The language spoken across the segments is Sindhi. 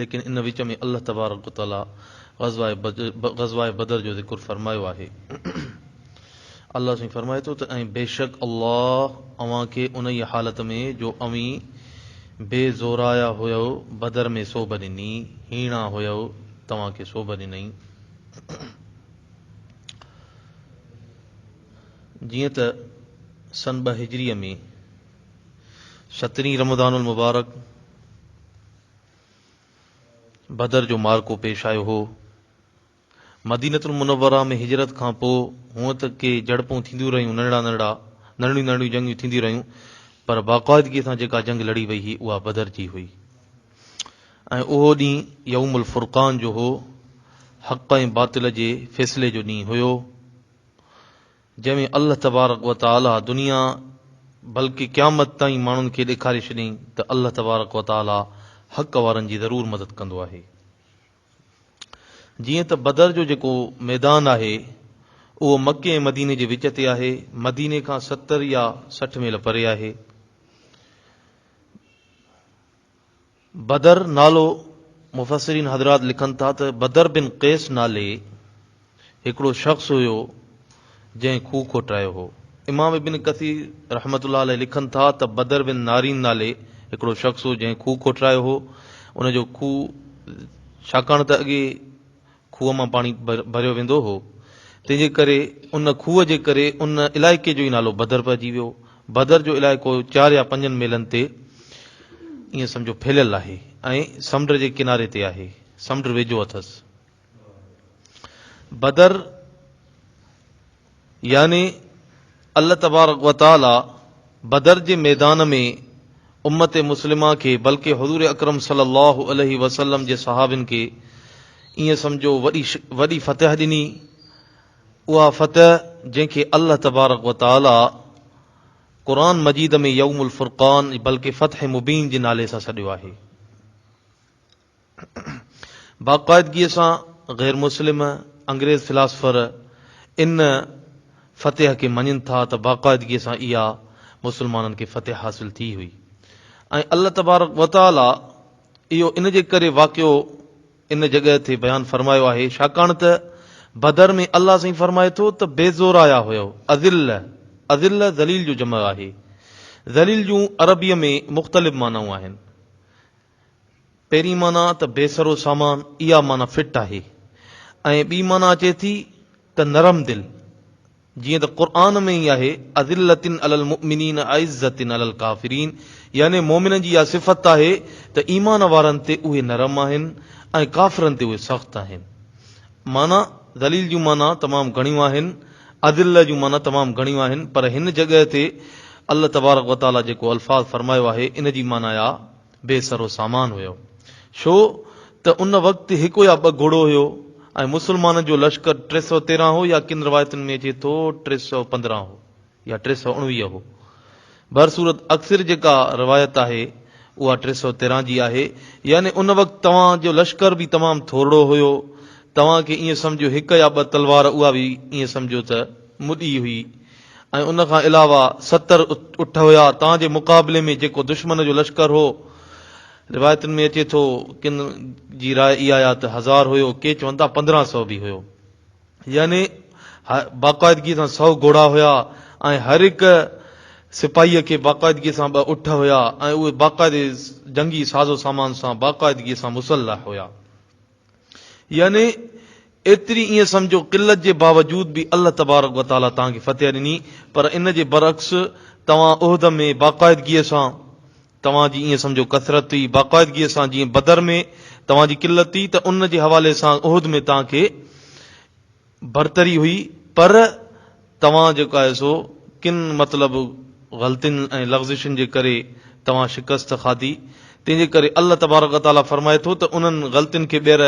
ليڪن ان وچ ۾ الله تبارڪ و تعالي غزوه بدر جو ذڪر فرمايو آهي. الله سائين فرمائي ٿو ته ۽ بيشڪ الله اوهان کي انهيء حالت ۾ جو اوهين بي زورايا هيؤ بدر ۾ سوڀ ڏني، هيڻا هيؤ، توهان کي سوڀ ڏنئي. جيئن ته سن ٻه هجريء ۾ سترهين رمضان المبارڪ بدر جو معرڪو پيش آيو هو. مدينة المنوره ۾ هجرت کان پوء هونء ته ڪي جهڙپون ٿينديون رهيون، ننڍڙا ننڍڙا ننڍڙيون ننڍڙيون جنگيون ٿينديون رهيون، پر باقاعدگيء سان جيڪا جنگ لڙي وئي هئي اها بدر جي هئي ۽ اهو ڏينهن يوم الفرقان جو هو، حق ۽ باطل جي فيصلي جو ڏينهن هيو. جنهن ۾ الله تبارڪ و تعاليٰ دنيا بلڪه قيامت تائين ماڻهن کي ڏيکاري ڇڏيائين ته الله تبارڪ و تعاليٰ حق وارن جي ضرور مدد ڪندو آهي. جيئن ته بدر جو جيڪو ميدان آهي اهو مڪي ۽ مديني جي وچ تي آهي، مديني کان ستر يا سٺ ميل پري آهي. بدر نالو مفسرين حضرات لکن ٿا ته بدر بن قيس نالي هڪڙو شخص هيو جنهن کوهه کوٽايو هو. امام ابن ڪثير رحمة الله عليه لکن ٿا ته بدر بن نارين نالي هڪڙو شخص هو جنهن کوهه کوٽرايو هو ان جو کوهه ڇاڪاڻ ته اڳي کوهه مان پاڻي ڀريو ويندو هو، تنهن جي ڪري ان کوهه جي ڪري ان علائقي جو ئي نالو بدر پئجي ويو. بدر جو علائقو چار يا پنجن ميلن تي ائين سمجهو ڦهليل آهي ۽ سمنڊ جي ڪناري تي آهي، سمنڊ ويجهو اٿس. بدر. يعني الله تبارڪ و تعاليٰ بدر جي ميدان ۾ امت مسلمه کي بلڪه حضور اڪرم صلي الله عليه وسلم جي صحابين کي ائين سمجهو وڏي وڏي فتح ڏني، اها فتح جنهن کي الله تبارڪ و تعاليٰ قرآن مجيد ۾ يوم الفرقان بلڪه فتح مبين جي نالي سان سڏيو آهي. باقاعدگيء سان غير مسلم انگريز فلاسفر ان فتح کي مڃين ٿا ته باقاعدگيء سان اها مسلمانن کي فتح حاصل ٿي هئي ۽ الله تبارڪ وتعاليٰ اهو ان جي ڪري واقعو ان جڳهه تي بيان فرمايو آهي ڇاڪاڻ ته بدر ۾ الله سائين فرمائي ٿو ته بي زورايا هيؤ اذله اذله ذليل جو جمع آهي ذليل جون عربيء ۾ مختلف معنائون آهن پهرين معنيٰ ته بي سرو سامان اها معنيٰ فٽ آهي ۽ ٻي معنيٰ اچي ٿي ته نرم دل جيئن ته قرآن ۾ ئي آهي اذلة علی المؤمنين اعزة علی الڪافرين يعني مؤمنن جي اها صفت آهي ته ايمان وارن تي اهي نرم آهن ۽ ڪافرن تي اهي سخت آهن. معنيٰ، ذليل جون معنيٰ تمام گهڻيون آهن، اذلة جون معنيٰ تمام گهڻيون آهن پر هن جڳهه تي الله تبارڪ وتعاليٰ جيڪو الفاظ فرمايو آهي ان جي معنيٰ اها. بي سرو سامان هيو، ڇو ته ان وقت هڪ يا ٻه گهوڙو هيو ۽ مسلمانن جو لشڪر ٽي سؤ تيرهن هو يا ڪن روايتن ۾ اچي ٿو ٽي سؤ پندرهن هو يا ٽي سؤ اڻويهه هو. بهرصورت اڪثر جيڪا روايت آهي اها ٽي سؤ تيرهن جي آهي، يعني ان وقت توهان جو لشڪر به تمام ٿورڙو هيو، توهان کي ائين سمجهو هڪ يا ٻه تلوار اها به ائين سمجهو ته مڏي هئي، ۽ ان کان علاوه ستر اٺ هيا تان جي مقابلي ۾ جيڪو دشمن جو لشڪر هو روايتن ۾ اچي ٿو ڪن جي راء اهاآهي ته هزار هيو ڪي چون ٿا پندرهن سؤ به هيو يعني باقاعدگي سان سؤ گهوڙا هيا ۽ هر هڪ سپاهيء کي باقاعدگي سان ٻه اٺ هيا ۽ اهي باقاعدي جنگي سازو سامان سان باقاعدگي سان مسلح هيا. يعني ايتري ائين سمجهو قلت جي باوجود به الله تبارڪ و تعالي توهان کي فتح ڏني پر ان جي برعڪس توهان احد ۾ باقاعدگيء سان توهان جي ائين سمجهو ڪثرت هئي باقاعدگيء سان جيئن بدر ۾ توهان جي قلت هئي ته ان جي حوالي سان احد ۾ توهان کي برتري هئي پر توهان جيڪو آهي سو ڪن مطلب غلطين ۽ لغزشن جي ڪري توهان شڪست کاڌي تنهن جي ڪري الله تبارڪ و تعالي فرمائي ٿو ته انهن غلطين کي ٻيهر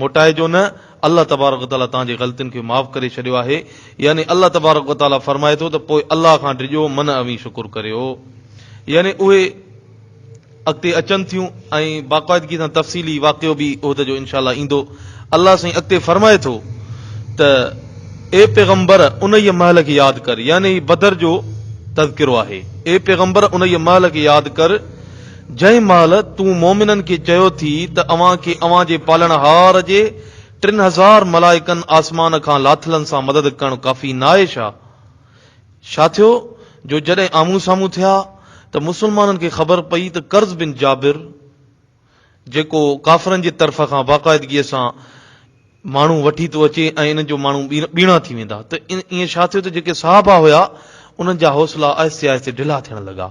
موٽائجو نه الله تبارڪ و تعالي توهان جي غلطين کي معاف ڪري ڇڏيو آهي يعني الله تبارڪ و تعالي فرمائي ٿو ته پوء الله کان ڊڄو من اوهين شڪر ڪريو يعني اهي اڳتي اچن ٿيون ۽ باقاعدگي سان تفصيلي واقعو به احد جو انشاء الله ايندو. الله سائين اڳتي فرمائي ٿو ته اي پيغمبر انهيء مهل کي ياد ڪر يعني هي بدر جو تذڪرو آهي اي پيغمبر انهيء مهل کي ياد ڪر جنهن مهل تون مؤمنن کي چيو ٿي ته اوهان کي اوهان جي پالڻهار جي ٽن هزار ملائڪن آسمان کان لاٿلن سان مدد ڪرڻ ڪافي ناهي ڇا؟ ڇا ٿيو جو جڏهن آمهون سامهون ٿيا ته مسلمانن کي خبر پئي ته قرض بن جابر جيڪو ڪافرن جي طرف کان باقاعدگيء سان ماڻهو وٺي ٿو اچي ۽ انهن جو ماڻهو ٻيڻا ٿي ويندا ته ائين ڇا ٿيو ته جيڪي صحابا هيا انهن جا حوصلا آهستي آهستي ڍلا ٿيڻ لڳا.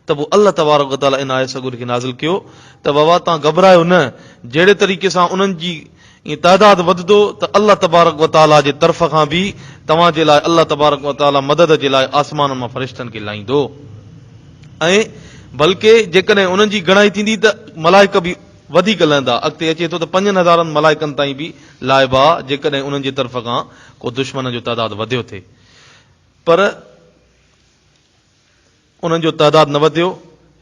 ته پوء الله تبارڪ و تعالي ان آيت سڳوري کي نازل ڪيو ته ووا توهان گهٻرايو نه، جهڙي طريقي سان انهن جي تعداد وڌندو ته الله تبارڪ و تعالي جي طرف کان به توهان جي لاء الله تبارڪ و تعالي مدد جي لاء آسمانن مان فرشتن کي لائيندو ۽ بلڪه جيڪڏهن انهن جي گهڻائي ٿيندي ته ملائڪ به وڌيڪ لهندا، اڳتي اچي ٿو ته پنجن هزارن ملائڪن تائين به لائبا جيڪڏهن انهن جي طرف کان ڪو دشمنن جو تعداد وڌيو ٿي پر. انهن جو تعداد نه وڌيو،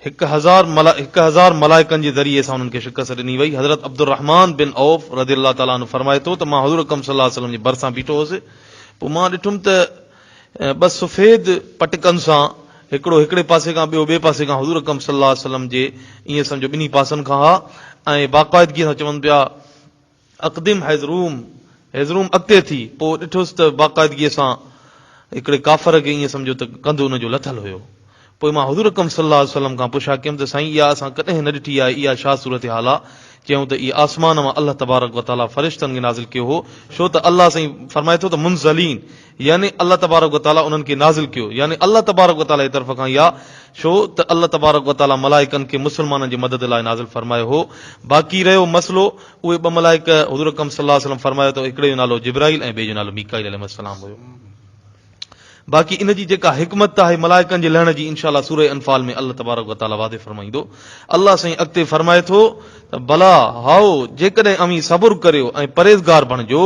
هڪ هزار هڪ هزار ملائڪن جي ذريعي سان انهن کي شڪست ڏني وئي، حضرت عبدالرحمان بن عوف رضي الله تعالٰي عنه فرمائي ٿو ته مان حضور اڪرم صلي الله عليه وسلم جي ڀرسان بيٺو هوس، پوء مان ڏٺم ته ٻه سفيد پٽڪن سان هڪڙو هڪڙي پاسي کان ٻيو ٻئي پاسي کان حضور اڪرم صلي الله عليه وسلم جي ائين سمجهو ٻنهي پاسن کان ها ۽ باقاعدگيء سان چون پيا، اقدم هيزروم، هيزروم اڳتي ٿي، پوء ڏٺوس ته باقاعدگيء سان هڪڙي ڪافر کي ائين سمجهيو ته ڪنڌ ان جو لٿل هيو. پوء مان حضور اڪرم صلي الله عليه وسلم کان پڇا ڪيم ته سائين اها اسان ڪڏهن نه ڏٺي آهي اها ڇا صورتحال آ؟ چيائون ته اهي آسمان مان الله تبارڪ وتعاليٰ فرشتن کي نازل ڪيو هو، ڇو ته الله سائين فرمائي ٿو ته منزلين! يعني الله تبارڪ و تعاليٰ انهن کي نازل ڪيو يعني الله تبارڪ و تعاليٰ جي طرف کان يا ڇو ته الله تبارڪ و تعاليٰ ملائڪن کي مسلمانن جي مدد لاء نازل فرمايو هو باقي رهيو مسئلو اهي ٻه ملائڪ حضور اڪرم صلي الله عليه وسلم فرمايو ته هڪڙي جو نالو جبرائيل ۽ ٻئي جو نالو ميڪائيل عليهم السلام هيو باقي ان جي جيڪا حڪمت آهي ملائڪن جي لهڻ جي انشاءالله سوره انفال ۾ الله تبارڪ و تعاليٰ واضح فرمائيندو الله سائين اڳتي فرمائي ٿو ته بلا هائو جيڪڏهن اوهين صبر ڪريو ۽ پرهيزگار بڻجو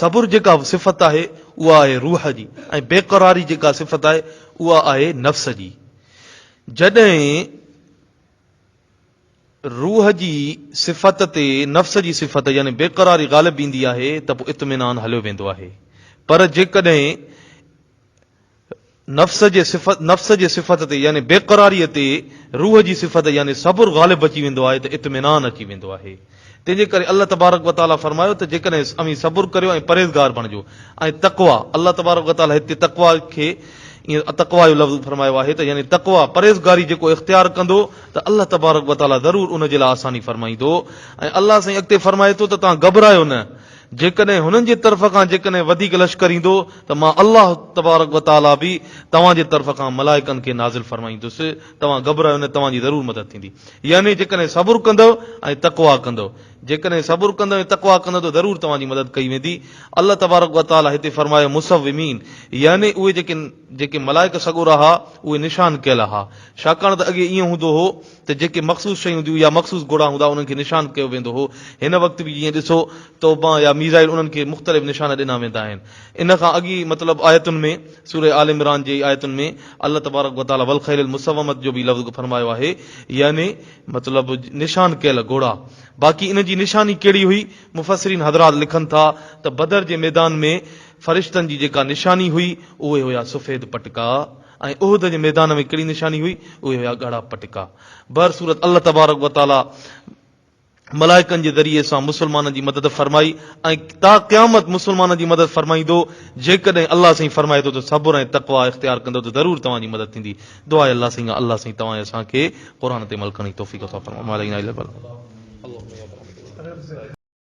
صبر جيڪا صفت آهي اها آهي روح جي ۽ بيقراري جيڪا صفت آهي اها آهي نفس جي. جڏهن روح جي صفت تي نفس جي صفت يعني بيقراري غالب ايندي آهي ته پوء اطمينان هليو ويندو آهي پر جيڪڏهن نفس جي صفت، نفس جي صفت تي يعني بيقراريء تي روح جي صفت يعني صبر غالب اچي ويندو آهي ته اطمينان اچي ويندو آهي. تنهن جي ڪري الله تبارڪ و تعاليٰ فرمايو ته جيڪڏهن اوهين صبر ڪريو ۽ پرهيزگار بڻجو ۽ تقويٰ، الله تبارڪ و تعاليٰ هتي تقويٰ کي ائين تقويٰ جو لفظ فرمايو آهي ته يعني تقويٰ، پرهيزگاري، جيڪو اختيار ڪندو ته الله تبارڪ و تعاليٰ ضرور ان جي لاء آساني فرمائيندو ۽ الله سائين اڳتي فرمائي ٿو ته توهان گهٻرايو نه. جيڪڏهن هنن جي طرف کان جيڪڏهن وڌيڪ لشڪر ايندو ته مان الله تبارڪ و تعاليٰ به توهان جي طرف کان ملائڪن کي نازل فرمائيندس، توهان گهٻرايو نه توهان جي ضرور مدد ٿيندي. يعني جيڪڏهن صبر ڪندؤ ۽ تقويٰ ڪندؤ. جيڪڏهن صبر ڪندؤ ۽ تقويٰ ڪندؤ ته ضرور توهان جي مدد ڪئي ويندي. الله تبارڪ و تعاليٰ هتي فرمايو مصوّمين يعني اهي جيڪي جيڪي ملائڪ سڳورا ها اهي نشان ڪيل ها، ڇاڪاڻ ته اڳي ائين هوندو هو، ته جيڪي مخصوص شيون هونديون يا مخصوص گهوڙا هوندا انهن کي نشان ڪيو ويندو هو. هن وقت به جيئن ڏسو تو بان يا ميزائل انهن کي مختلف نشان ڏنا ويندا آهن. ان کان اڳي مطلب آيتن ۾ سوره آل عمران جي آيتن ۾ الله تبارڪ وتعالٰي والخيل المسومة جو به لفظ فرمايو آهي يعني مطلب نشان ڪيل گهوڙا باقي ان جي نشاني ڪهڙي هئي مفسرين حضرات لکن ٿا ته بدر جي ميدان ۾ فرشتن جي جيڪا نشاني هئي اهي هيا سفيد پٽڪا ۽ احد جي ميدان ۾ ڪهڙي نشاني هئي؟ اهي هيا ڳاڙها پٽڪا. بهرصورت الله تبارڪ و تعاليٰ ملائڪن جي ذريعي سان مسلمانن جي مدد فرمائي ۽ تا قيامت مسلمانن جي مدد فرمائيندو. جيڪڏهن الله سائين فرمائي ٿو ته صبر ۽ تقويٰ اختيار ڪندؤ ته ضرور توهان جي مدد ٿيندي. دعا اي الله سائين الله سائين توهان اسان کي قرآن تي عمل ڪرڻ جي توفيق عطا فرماء وما علينا الا البلاغ.